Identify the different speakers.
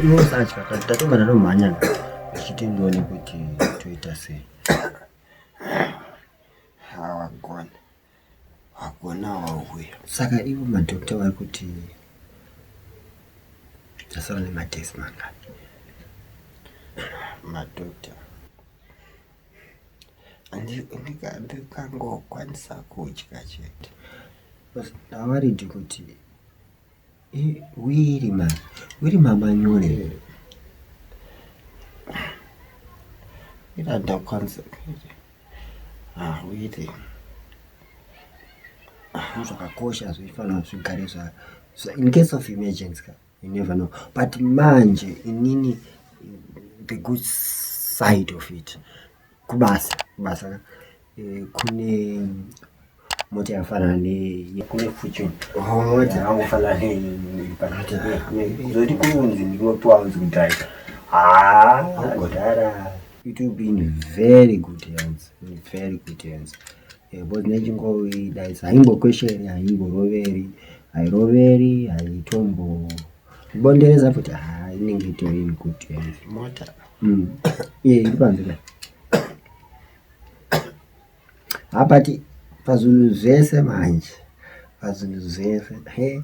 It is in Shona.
Speaker 1: inosatya tatongana nomhanya tichiti ndione kuti toita sei hawagona hagona wauya saka ivo madhokta vari kuti tasara nematesi mangani madhokta ndikangokwanisa kudya chete ndavaridi kuti wiri ma wiri mamanyore here ira ndakwanisa kuita ah wiri ah, zvakakosha zvifanira zvigare zva in case of emergency ka You never know but manje inini the good side of it kubasa kubasa ka eh, kune mota yafanana nekune future mota yangofanana zoti kunzi ndinopiwa unzi kudriver haa ah, kudhara it will be in very good hands in very good hands Because nechingovi dai haimbokwesheri haimboroveri hairoveri haitombo bondereza futi ha inenge itori good mota mm. iye iri panze ka hapati pazvinhu zvese manje pazvinhu zvese he